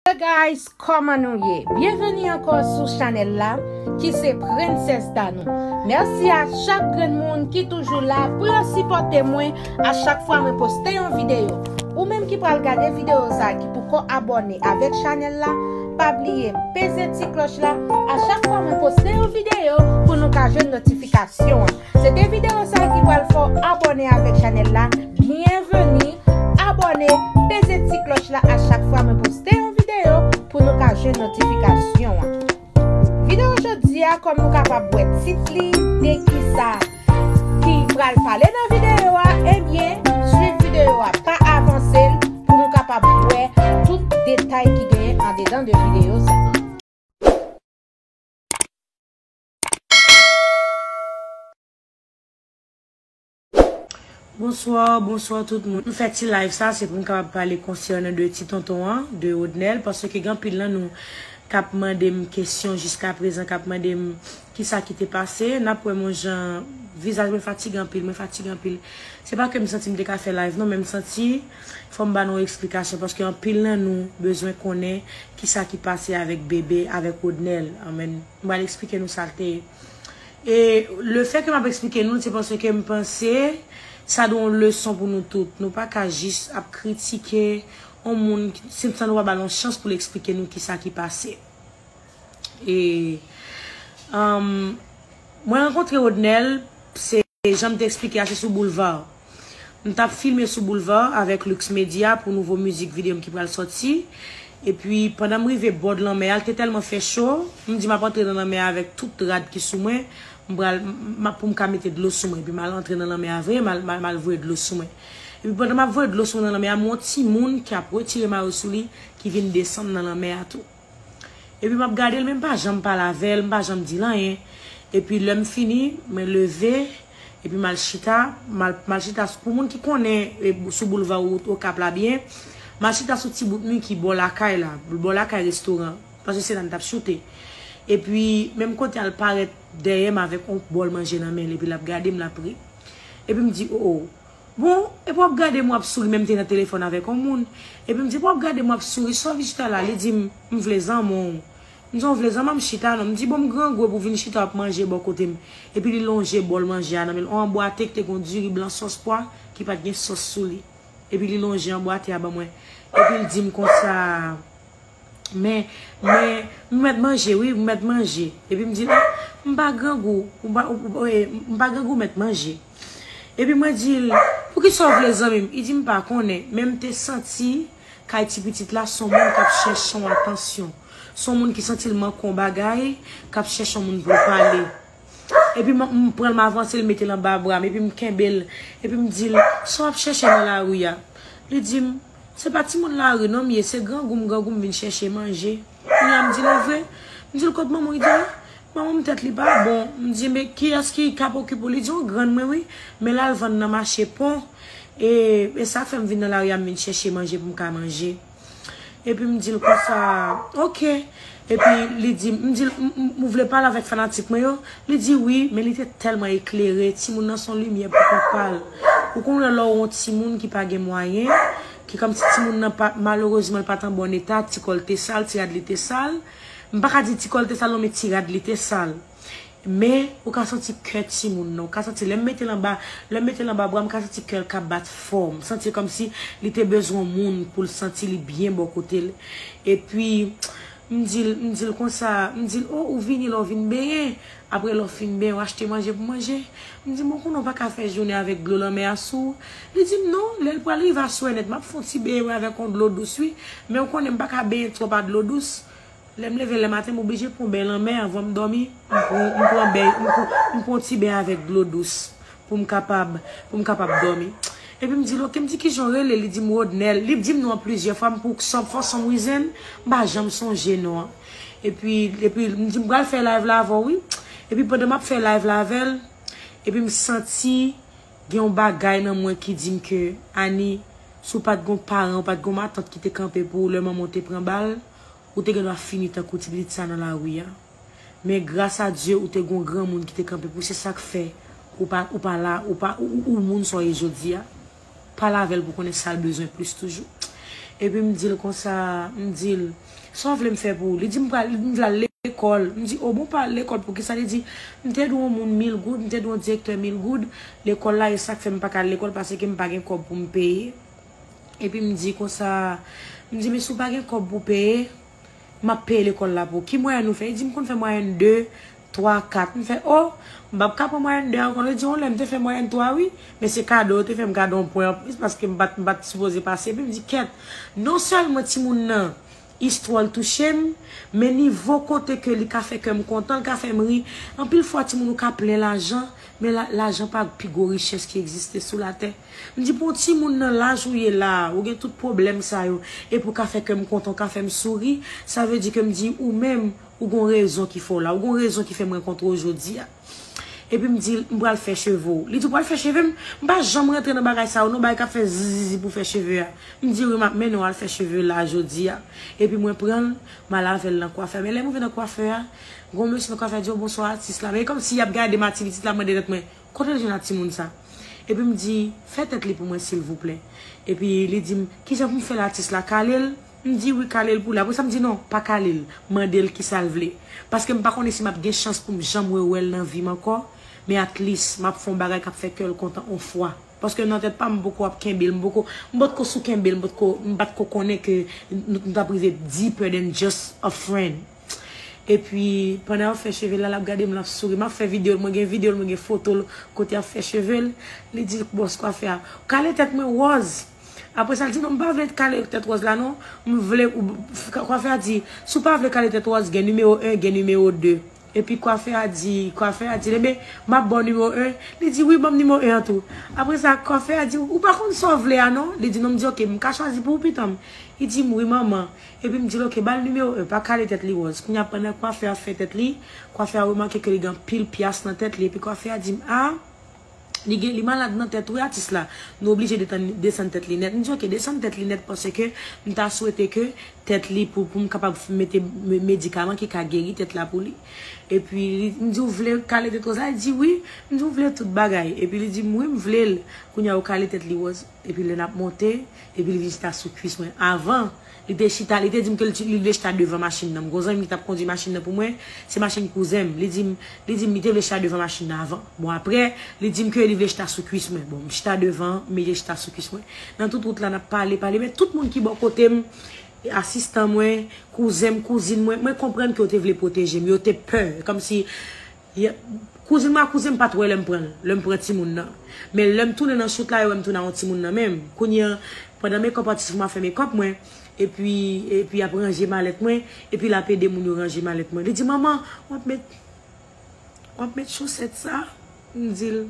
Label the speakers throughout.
Speaker 1: Hey guys kòman nou ye byenveni ankò sou chanèl la ki se princess Danou mèsi a chak grenn moun ki toujou la pou yo sipòte mwen a chak fwa mwen poste yon videyo ou menm ki pral gade videyo sa ki poko abòne avèk chanèl la pa bliye peze ti klòch la a chak fwa mwen poste yon videyo pou nou ka jwenn notifikasyon an. Se te video sa ki pral fè w abone avek chanel la Byenveni Abone Peze ti kloch la a chak fwa mwen poste yon video pou nou ka jwenn notifikasyon an Video jodi a kom nou kapab wè tit li de kisa ki pral pale nan video a ebyen swiv video a pa avanse l pou nou kapab wè tout detay ki genyen andedan de video sa.
Speaker 2: Bonsoir, bonsoir tout moun. M fè ti live sa se pou m kapab pale konsènan de ti tonton an, de Rodnel, paske gen anpil nan nou k ap mande m kesyon jiska prezan, k ap mande m ki sa ki te pase. N ap wè m yon jan, vizaj mwen fatige anpil, mwen fatige anpil. Se pa ke m santi m te ka fè live non, men m santi fò m ba nou eksplikasyon paske anpil nan nou bezwen konnen ki sa ki pase avèk bebe, avèk Rodnel. Amen. M pral eksplike nou sa l te ye. E le fè ke m ap eksplike nou l se paske m panse sa dwe yon leson pou nou tout. Nou pa ka jis ap kritike yon moun san san nou pa ba l yon chans pou l eksplike nou kisa ki pase. E Mwen rankontre Odnel se. E janm te esplike a se sou boulevard. M tap filme sou boulevard avèk Lux Media pou nouvo mizik video m ki pral sòti. Epi pandan m rive bord lanmè a l te tèlman fè cho, m di map antre nan lanmè a avèk tout rad ki sou mwen, m pral map pou m ka mete dlo sou mwen. Epi mal antre nan lanmè a vre, mal voye dlo sou mwen. Epi pandan map voye dlo sou mwen nan lanmè a m wè yon timoun ki ap retire mayo sou li ki vin desann nan lanmè a tou. Epi map gadel men mpa janm pale avèl, mpa janm dil anyen. Epi lèm fini mwen leve epi mal chita, mal chita pou moun ki konnen sou boulva wout okap la byen, mal chita sou ti bout mi ki bò lakay la, bò lakay restoran paske se la mtap choute. Epi menm kote al parèt dèyèm avèk yon bòl manje nan menl epi lap gadem lap ri. Epi mdi oo. Bon, epi w ap gade m w ap souri men m te nan telefòn avèk yon moun. Epi m di, epi w ap gade m w ap souri, sa w vin chita la? Li di m, m vle zanman w. M di, w vle zanman m chita non. M di, bon m grangou epi w vin chita w ap manje bò kote m. Epi li lonje bòl manje a nan men l, yon anbwate ki te gen yon diri blan sòs pwa ki pa t gen sòs sou li. Epi li lonje anbwate a ban mwen. Epi l di m konsa, Men, men, m mèt manje wi, m mèt manje. Epi m di l, m pa grangou, m pa grangou m mèt manje. Epi mwen di l, Poukisa w vle zanmi m? Li di m, M pa konnen, men m te santi kay ti pitit la s on moun k ap chèche yon atansyon, s on moun ki santi l manke yon bagay, k ap chèche yon moun pou l pale. Epi m pran l m avanse l mete l anba bra m epi m kenbe l, epi m di l, Sa w ap chèche nan lari a? Li di m, Se pa timoun lari non m ye, se grangou m grangou m vin chèche manje. Kounya m di nou vre, m di l kot manman w? Li di m, manman m tèt li pa bon. M di men kiyès ki kap okipe w? Li di yon grann mwen wi, men l al vann nan mache pon. E e sa k fè m vin nan lari a m vin chèche manje pou m ka manje. Epi m di l konsa, ok. Epi li di m, m di l, ou vle pale avèk fanatik mwen yo? Li di wi, men li te tèlman eklere, timoun nan s on limyè poukont pa l. Ou konn wè lè w on timoun ki pa gen mwayen, ki kòm si timoun nan pa, malerezman l pa t an bon eta, ti kò l te sal, ti rad li te sal. M pa ka di ti kò l te sal non men ti rad li te sal. Men, ou ka santi kè timoun nan. Ou ka santi lè m mete l anba, lè m mete l anba bra m ka santi kè l k ap bat fò. M santi kòm si li te bezwen yon moun pou l santi li byen bò kote l. Epi, m di l, m di l konsa, m di l, o ou vini la ou vin benyen? Apre lè w fin benyen, w achte manje pou manje. M di, Bon, konnen w pa ka fè jounen avèk dlo lanmè a sou ou. Li di m, Non, lè l pral rive aswè nèt, m ap fè yon ti benyen wi avèk yon dlo dous wi. Men ou konnen m pa ka benyen twòp a dlo dous. Lè m leve lè maten, m oblije pran yon beny lanmè anvan m dòmi. M pran beny, m pran yon ti beny avèk dlo dous pou m kapab, pou m kapab dòmi. Epi m di l, Oke, m di ki jan w rele? Li di m, Rodnel. Li di m non an plizyè fwa, m pou k son, fò son m rize l, m pa janm sonje non an. Epi, epi m di m pral fè live la avè w wi. Epi pandan m ap fè live la avè l, epi m santi gen yon bagay nan mwen ki di m ke, Ani, si w pa t gen yon paran, w pa t gen yon matant ki te kanpe pou ou lè manman w te pran bal, ou te gen dwa fini tankou ti pitit sa nan lari a. Men gras a Dye ou te gen yon granmoun ki te kanpe pou w, se sa k fè ou pa, ou pa la, ou pa, ou moun sa w ye jodi a. pale avèl pou konnen sal bezwen plis toujou epi m dil konsa m dil sa w vle m fè pou ou li di m pral m vle al lekòl m di o bon pa al lekòl poukisa li di m te dwe yon moun mil goud m te dwe yon direktè mil goud lekòl la e sak fè m paka al lekòl paseke m pa gen kòb pou m peye epi m di konsa m di men si w pa gen kòb pou peye. Map peye lekòl la pou ou. Ki mwayèn ou fè? Li di m konn fè mwayèn 2, 3, 4. M fè, o! M pap ka pran mwayèn 2 ankò. Li di, yon lè m te fè mwayèn 3 wi, men se kado yo te fè m kado yon pwen anplis paske m pa t sipoze pase. Epi m di, kèt! Non sèlman timoun nan, istwa l touche m, men nivo kote ke li ka fè kè m kontan, li ka fè m ri. Anpil fwa timoun ou ka plen lajan, men lajan pa pi gwo richès ki egziste sou latè. M di pou yon timoun nan laj ou ye la a, ou gen tout pwoblèm sa yo, epi ou ka fè kè m kontan, ou ka fè m souri, sa vle di ke m di ou menm, ou gen yon rezon ki fè w la, ou gen yon rezon ki fè m rankontre w jodi a. Epi m di l, m pral fè cheve w. Li di ou pral fè cheve m? M pa janm rantre nan bagay sa yo non, bagay k ap fè zizizi pou fè cheve a. M di wi, m ap mennen w al fè cheve la a jodi a. Epi mwen pran l, m al avè l nan kwafè a. Men lè m rive nan kwafè a, gen yon mesye nan kwafè a di yo bonswa atis la. Men e kòmsi y ap gade m, aktivitis la mande tèt mwen, Kote l jwenn ak timoun sa? Epi m di, Fè tèt li pou mwen silvouplè. Epi li di m, Kijan pou m fè l atis la? Kale l? M di, Wi, kale l pou li. Apresa m di, Non, pa kale l. Mande l kisa l vle. Paske m pa konnen si m ap gen chans pou m janm rewè l nan vi m ankò, men atlis m ap fè yon bagay k ap fè kè l kontan yon fwa. Paske nan tèt pa m, m poko ap kenbe l, m poko, m pa t ko sou kenbe l, m pa t ko, m pa t ko konnen ke nou t ap rive deeper than just a friend. Epi pandan yap fè chevel la lap gadem lap souri map fè videol mwen gen videol mwen gen fotol kote yap fè chevel li di boss kwafè a kale tèt mwen wòz aprè sa li di non mpa vle kale tèt wòz la non mvle kwafè a di si w pa vle kale tèt wòz gen nimewo 1 gen nimewo 2 epi kwafè a di kwafè a di ebyen map baw nimewo 1 li di wi banm nimewo 1 an tou aprè sa kwafè a di ou pa konn sa w vle a non li di non m di ok mka chwazi pou ou pitanm li dim wi manman. Epi m di l ok, ba l nimewo 1, pa kale tèt li wòz. Kounye a pandan kwafè a fè tèt li, kwafè a remake ke li gen anpil pyas nan tèt li epi kwafè a di m a, li gen, li malad nan tèt wi atis la, nou oblije detann, desann tèt li nèt. M di ok, desann tèt li nèt paske m ta swete ke tèt li, pou, pou m kapab mete medikaman ki ka geri tèt la pou li. Epi li, m di ou vle kale tèt wòz la? Li di wi. M di ou vle tout bagay? Epi li di m wi m vle l. Kounye a ou kale tèt li wòz. Epi lè nap monte, epi li vin chita sou kwis mwen. Avan, li te chita, li te di m ke li vle chita devan machin nan. M gen yon zanmi m ki tap kondwi machin nan pou mwen, se machin kouzen m. Li di m, li di m li te vle chita devan machin nan avan. Bon aprè, li di m ke li vle chita sou kwis mwen. Bon, m chita devan, m mete chita sou kwis mwen. Nan tout wout la nap pale, pale, men tout moun ki bò kote m, asistan mwen, kouzen m, kouzin mwen, mwen konprann ke yo te vle pwoteje m, yo te pè, kòmsi Yep. Kouzin mwen ak kouzen m pat wè lè m pran l, lè m pran timoun nan. Men lè m tounen nan shoot la yo wè m tounen a yon timoun nan men m. Kounye an, pandan makeup atis mwen ap fè makeup mwen, epi epi yap ranje malèt mwen, epi lap ede moun yo ranje malèt mwen. Li di manman, wap met wap met chosèt sa? M di l.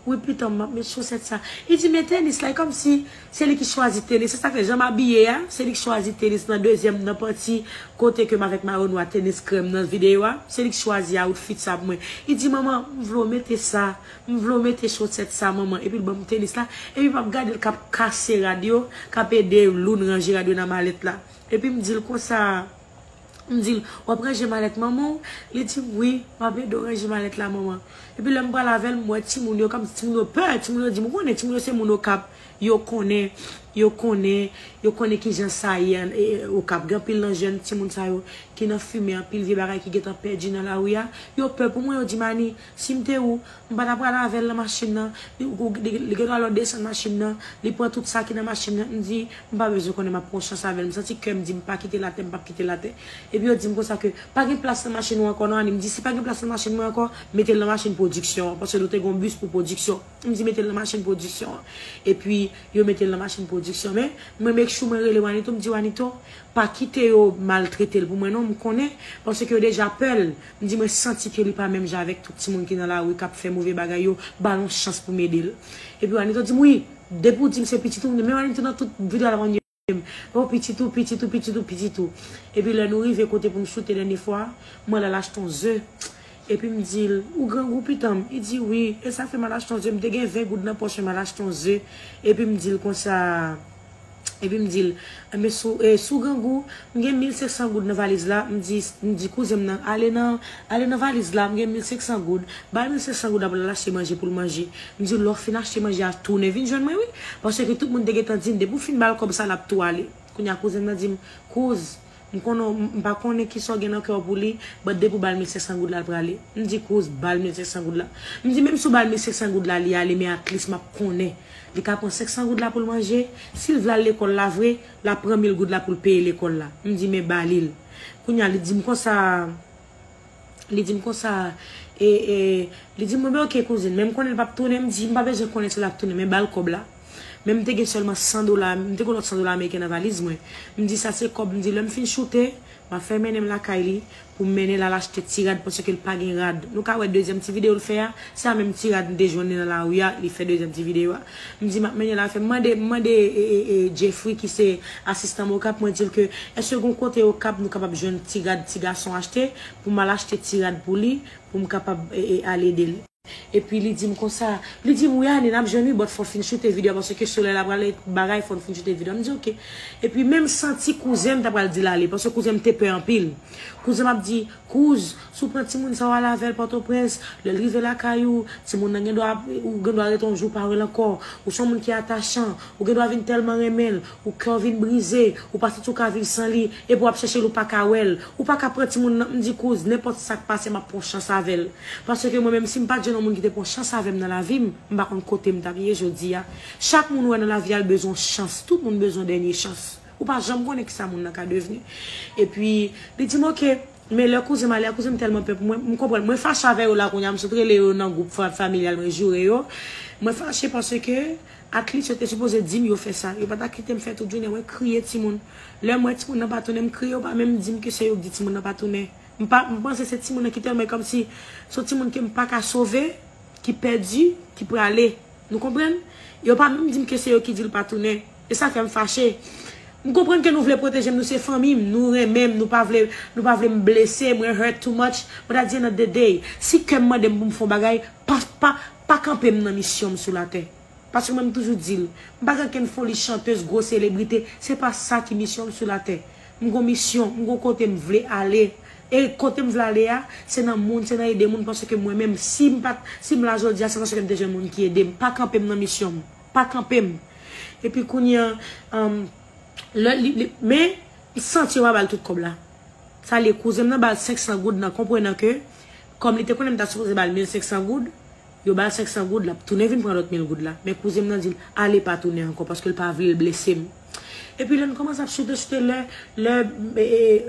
Speaker 2: Wi pitanm map met chosèt sa. Li di men tenis la e kòmsi se li ki chwazi tenis se sak fè janm abiye a se li ki chwazi tenis nan dezyèm nan panti kote kem avèk mayo nwa tenis krèm nan videyo a se li ki chwazi awoutfit sa pou mwen li di manman m vle w mete sa m vle w mete chosèt sa manman epi l banm tenis la epi map gade l kap kase rad yo kap ede Loune ranje rad yo nan malèt la epi m di l konsa. M di l, w ap ranje malèt manman w? Li di m, wi, m ap ede w ranje malèt la manman. Epi lè m pral avè l, m wè timoun yo kòmsi timoun yo pè, timoun yo di m, ou konnen timoun yo se moun Okap, yo konnen, yo konnen, yo konnen ki jan sa ye ann e Okap. Gen anpil nan jèn timoun sa yo ki nan fimen, anpil vye bagay ki gen tan pèdi nan lari a. Yo pè pou mwen, yo di m, Ani, Si m te ou, m pa ta pral avè l nan machin nan. Li gen dwa lè w desann machin nan, li pran tout sa ki nan machin nan. M di, m pa bezwen konnen, m ap pran chans avè l. M santi kè m di m pa kite l atè, m pap kite l atè. Epi yo di m konsa ke, pa gen plas nan machin ou ankò non Annie. M di, si pa gen plas nan machin mwen ankò, mete l nan machin pwodiksyon an. Paske nou te gen yon bis pou pwodiksyon. M di, mete l nan machin pwodiksyon an. Epi, yo mete l nan machin pwodiksyon. Men, mwen make sure mwen rele Wanito, m di, Wanito, pa kite yo maltrete l pou mwen non, m konnen. Paske yo deja pè l. M di mwen santi ke li pa menm jan avèk tout timoun ki nan lari kap fè move bagay yo, ba l yon chans pou m ede l. Epi Wanito di m wi, depi w di m se pitit ou, m di men Wanito nan tout video a l ap mande m, oh pitit ou, pitit ou, pitit ou, pitit ou. Epi lè nou rive kote pou m choute dènye fwa, mwen la l achte yon ze, epi m di l, ou grangou pitan m, li di wi, e sa fè m al achte yon ze, m te gen 20 goud nan pòch mwen, m al achte yon ze, epi m di l konsa. Epi m di l, Enben, si w grangou, m gen mil senksan goud nan valiz la. M di kouzen m nan, Ale nan valiz la, m gen mil senksan goud. Ba l mil senksan goud la pou l al achte manje pou l manje. M di l, Lè w fin achte manje a, tounen vin jwenn mwen wi. Paske tout moun te gentan di m, Depi w fin ba l kòb sa a, l ap tou ale. Kounye a kouzen m nan di m, Kouz, M konnen w m pa konnen kisa w gen nan kè w pou li but depi w ba l 1500 goud la l prale m di Cruz ba l 1500 goud la m di menm si w ba l 1500 goud la li ale men atlis m ap konnen li ka pran 500 goud la pou l manje si l vle al lekòl la vre l ap pran 1000 goud la pou l peye lekòl la m di men ba li l kounya li di m konsa. Li di m konsa, e, e, li di m, mwen bay ok kouzin, men m konnen li p ap tounen, m di m pa bezwen konnen si l ap tounen men ba l kòb la. Men m te gen sèlman 100 dola, m te gen yon lòt 100 dola ameriken nan valiz mwen. M di sa se kòb, m di lè m fin choute, m ap fè mennen m lakay li pou m mennen l al achte ti rad paske l pa gen rad. Nou ka wè dezyèm ti videyo l fè a, se a menm ti rad m te jwenn li nan lari a, li fè dezyèm ti videyo a. M di m ap mennen lafè. M mande m mande Jeffry ki se asistan m Okap, mwen di l ke èske gon kote Okap nou kapab jwenn ti rad ti gason achte pou m al achte ti rad pou li pou m kapab al ede l. Epi li di m konsa, li di m wi Anie n ap jwenn wi bòt fò w fin choute video a paske solèy la prale bagay fò n fin choute video a. M di ok. Epi menm santi kouzen m ta pral di l ale paske kouzen m te pè anpil. Kouzen m ap di. Kouz, Si w pran timoun sa w ale avè l Pòtoprens, lè l rive lakay ou, timoun nan gendwa ap, ou gendwa rete yon jou pa wè l ankò. Ou se yon moun ki atachan, ou gendwa vin tèlman renmen l, ou kè w vin brize, ou pa santi w ka viv san li, epi w ap chèche l ou pa ka wè l. Ou pa ka pran timoun nan, m di kouz, nenpòt sa k pase m ap pran yon chans avè l. Paske mwen menm si m pa t jwenn yon moun ki te pran yon chans avè m nan lavi m, m pa konn kote m t ap ye jodi a. Chak moun ou wè nan lavi a l bezwen yon chans, tout moun bezwen yon dènye chans. Ou pa janm konnen kisa moun nan ka devni. Epi, li di m ok. Men lè kouzen m ale a, kouzen m tèlman pè pou mwen, m konprann. Mwen fache avè yo la kounya, m sot rele yo nan gwoup familyal mwen joure yo. Mwen fache paske atlit yo te sipoze di m yo fè sa. Yo pa ta kite m fè tout jounen. Mwen kriye timoun. Lè m wè timoun nan pa tounen, m kriye. Yo pa menm di m ke se yo ki di timoun nan pa tounen. M pa, m panse se timoun nan ki tèlman, e kòmsi se yon timoun ke m pa ka sove, ki pèdi, ki prale. Nou konprann? Yo pa menm di m ke se yo ki di l pa tounen. E sa fèm fache. M konprann ke nou vle pwotejem nou se fanmim nou renmenm nou pa vle nou pa vlem blese mwen hurt too much but at the end of the day si kèm mandem poum fon bagay pa pa pa kanpem nan misyonm sou latè paske mwen m toujou dil m pa gen kenn foli chanteuse gwo selebrite se pa sa ki misyonm sou latè m gon misyon m gon kotem vle ale e kotem vle ale a se nan moun se nan ede moun paske mwen menm sim pat sim la jodia se paskem te jwenn moun ki edem pa kanpem nan misyonm. pa kanpe m. Epi kounye an, an, lè li, li, men, m santi yo pa ba l tout kòb la. Sa l ye, kouzen m nan ba l senksan goud nan konprenan ke, kòm li te konnen m ta sipoze ba l mil senksan goud, yo ba l senksan goud, l ap tounen vin pran lòt mil goud la. Men kouzen m nan di l, ale pa tounen ankò, paske l pa vle l blese m. Epi lè nou kòmanse ap choute choute lè lè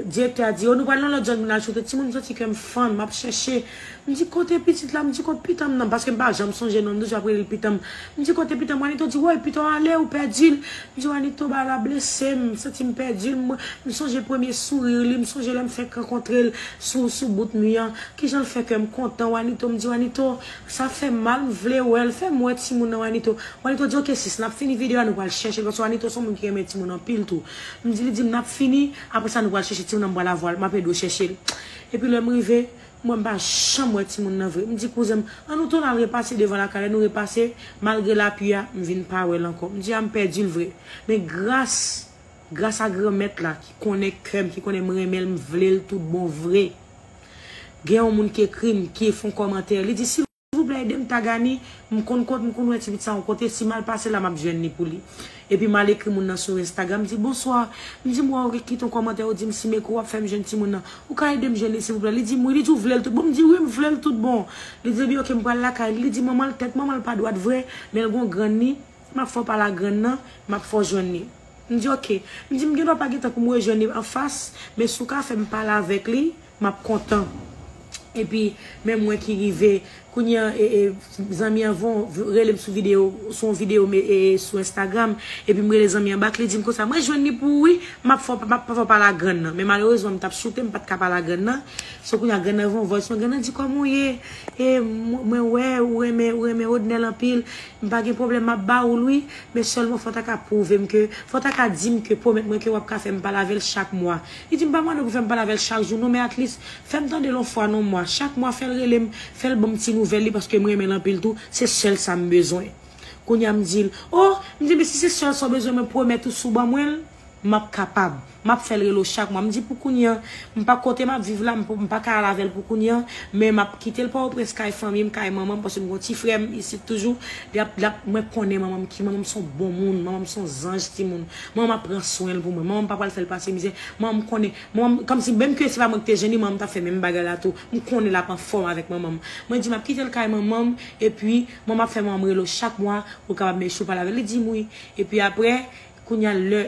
Speaker 2: direktè a di yo nou pral nan lòt zòn pou n al choute timoun m santi kè m fann m ap chèche m di kote pitit la m di kot pitan m nan paske m pa janm sonje non m toujou ap rele l pitan m m di kote pitan m wanito di woy pitan w ale ou pèdi l m di wanito bagay la blese m m santi m pèdi l m sonje premye souri li m sonje lè m fèk rankontre l sou sou bout mi an kijan l fè kè m kontan wanito m di wanito Sa fèm mal m vle wèl. Fèm wè timoun nan Wanito. Wanito di ok sis nap fini video a nou pral chèchel paske Wanito son moun ki renmen timoun anpil tou. M di li dim nap fini aprè sa nou pral chèche timoun nan m pral avwal map ede w chèchel. Epi lèm rive m wè m pa janm wè timoun nan vre. M di kouzen m an nou tounen al repase devan lakay lè nou repase malgre lapui a m vin pa wèl ankò. M di a m pèdil vre. Men gras. Gras a Granmèt la ki konnen kè m, ki konnen m renmen l, m vle l tout bon vre. Gen yon moun ki ekri m, ki fon kòmantè, li di, silvouplè ede m tag Annie, m konn kot, m konn wè ti pit sa yon kote, si m al pase la m ap jwenn li pou li. Epi m al ekri moun nan sou Instagram, m di, bonswa, m di m wè ou ret kite yon kòmantè, ou di m si m ekri w ap fè m jwenn timoun nan, ou ka ede m jwenn li silvouplè? Li di m wi, li di ou vle l tout bon? M di wi m vle l tout bon. Li di epi ok m pral lakay li, li di manman l tèt manman l pa dwat vre, men l gen yon grann li, M ap fè w pale a grann nan, m ap fè w jwenn li. M di ok. M di m gendwa pa gen tan pou m rejwenn li anfas, men si w ka fè m pale avèk li, m ap kontan. Epi, men mwen ki rive. Kounye a, zanmi an rele m sou videyo, sou yon videyo sou Instagram. Epi m rele zanmi an bak, li di m konsa, m rejwenn li pou ou wi, m ap fè w pale a grann nan. Men malerezman, m t ap soute, m pa t ka pale a grann nan. So kounye a, grann nan voye m voice note, grann nan di kòman w ye? E mwen wè ou renmen Rodnel anpil. M pa gen pwoblèm map ba oul wi men sèlman fò ta ka pwouvem ke fò ta ka dim ke pwomèt mwen ke wap ka fèm pale avèl chak mwa li dim pa mande pou fèm pale avèl chak jou non men atlis fèm tandel on fwa non mwa chak mwa fèl relem fèl banm ti nouvèl li paske m renmenl anpil tou se sèl sam bezwen kounya m dil oh m di men si se sèl sa w bezwen mwen pwomèt ou si w ban mwenl M ap kapab. M ap fè l rele w chak mwa. M di pou kounye an, m pa kote m ap viv la, m pa ka al avè l pou kounye an, men m ap kite l Pòtoprens kay fanmi m, kay manman m, paske m gen yon ti frè m isit toujou. Li ap, li ap, mwen konnen manman m ki, manman m se yon bon moun, manman m se yon zanj timoun. Manman m ap pran swen l pou mwen. Manman m pa pral fè l pase mizè. Manman m konnen, manman m, kòmsi menm ke se pa mwen ki te jwenn li, manman m t ap fè menm bagay la tou. M konnen l ap anfòm avèk manman m. Mwen di m ap kite l kay manman m, epi manman m ap fè manman m rele w chak mwa pou l kapab mèche w pale avè l. Li di m wi. Epi aprè. Kounya lè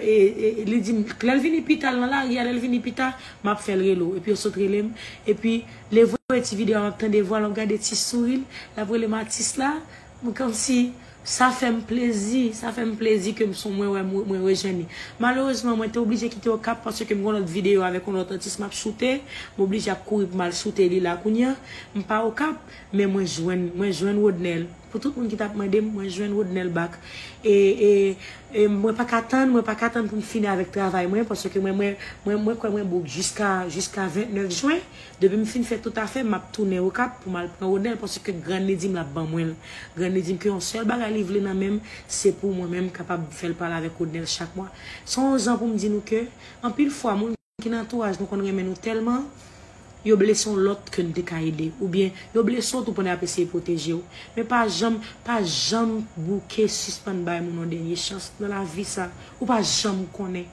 Speaker 2: li dim lè l vini pita l nan lari a lè l vini pita map fè l rele w epi yo sot rele m epi le voye ti video a map tande vwa l map gade ti souri l lap rele m atis la m kòmsi sa fè m plezi sa fè m plezi ke m son mwen wè mwen rejwenn li malerezman mwen te oblije kite okap paske m gon lòt video avèk yon lòt atis map choute m oblije ap kouri pou m al choute li la kounya m pa okap men mwen jwenn mwen jwenn Rodnel. Pou tout moun ki tap mandem mwen jwenn Rodnel back e e e mwen paka tann mwen paka tann poum fini avèk travay mwen paske mwen mwen mwen mwen kwè mwen bouk jiska jiska 29 jwen depim fin fè tout afèm map tounen okap poum al pran Rodnel paske grann li dim lap ban mwenl grann li dim ke yon sèl bagay li vle nan menm se pou mwen menm kapab fèl pale avèk Rodnel chak mwa son zan poum di nou ke anpil fwa moun Ki nan antouraj nou konn renmen nou tèlman yo blese yon lòt ke n te ka ede oubyen yo blese w tou pandan y ap eseye pwoteje w. Men pa janm, pa janm bouke sispann bay moun yon dènye chans nan lavi sa ou pa janm konnen.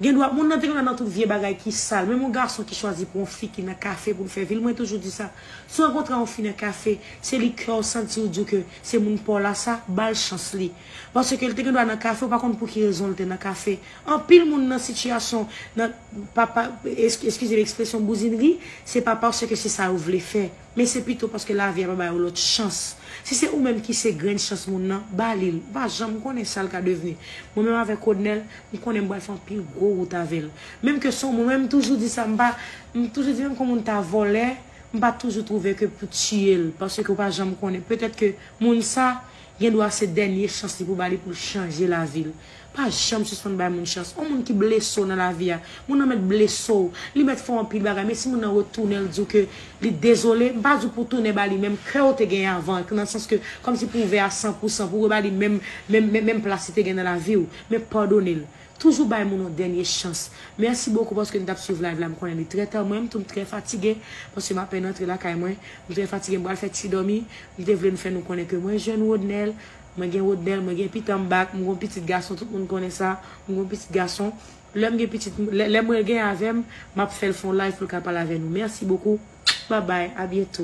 Speaker 2: Gendwa moun nan te konn al nan tout vye bagay ki sal menm yon gason ki chwazi pran yon fi ki nan kafe pou l fè vi l mwen toujou di sa si w rankontre yon fi nan kafe se li kè w santi w di w ke se moun pa w la sa ba l chans li. Paske l te gendwa nan kafe, ou pa konn pou ki rezon l te nan kafe. Anpil moun nan sitiyasyon, nan, pa, pa, eskize m ekspresyon bouzinri, se pa paske se sa yo vle fè, men se pito paske lavi a pa ba yo lòt chans. Si se ou menm ki se grenn chans moun nan, ba li l. Ou pa janm konnen sa l ka devni. Mwen menm avèk Rodnel, m konnen m pral fè anpil gwo wout avè l. Menm ke son mwen menm m toujou di sa, m pa, m toujou di menm ke w moun ta vòlè, m pa toujou twouve ke pou tiye l, paske ou pa janm konnen. Petèt ke moun sa, Gen dwa se dènye chans li pou ba li pou l chanje lavi l. Pa janm sispann bay moun chans. On moun ki blese w nan lavi a, moun nan mèt blese w, li mèt fè w anpil bagay men si moun nan retounen l di w ke li dezole, m pa di w pou w tounen ba li menm kè w te genyen avan an, nan sans ke kòmsi pou w ouvè a san pou san, pou w reba li menm menm menm plas li te gen nan lavi w, men padone l. Toujou bay moun yon dènye chans. Merci beaucoup paske nou tap swiv live la m konnen li trè ta mwen m tou m trè fatigue paske m apèn antre lakay mwen m trè fatigue m pral fè ti dòmi m te vle nou fè nou konnen ke mwen jwenn Rodnel mwen gen Rodnel mwen gen pitanm back m gon pitit gason tout moun konnen sa m gon pitit gason lèm gen pitit lè mwen gen avèm map fèl fon live poul ka pale avè nou merci beaucoup bye bye a bientôt.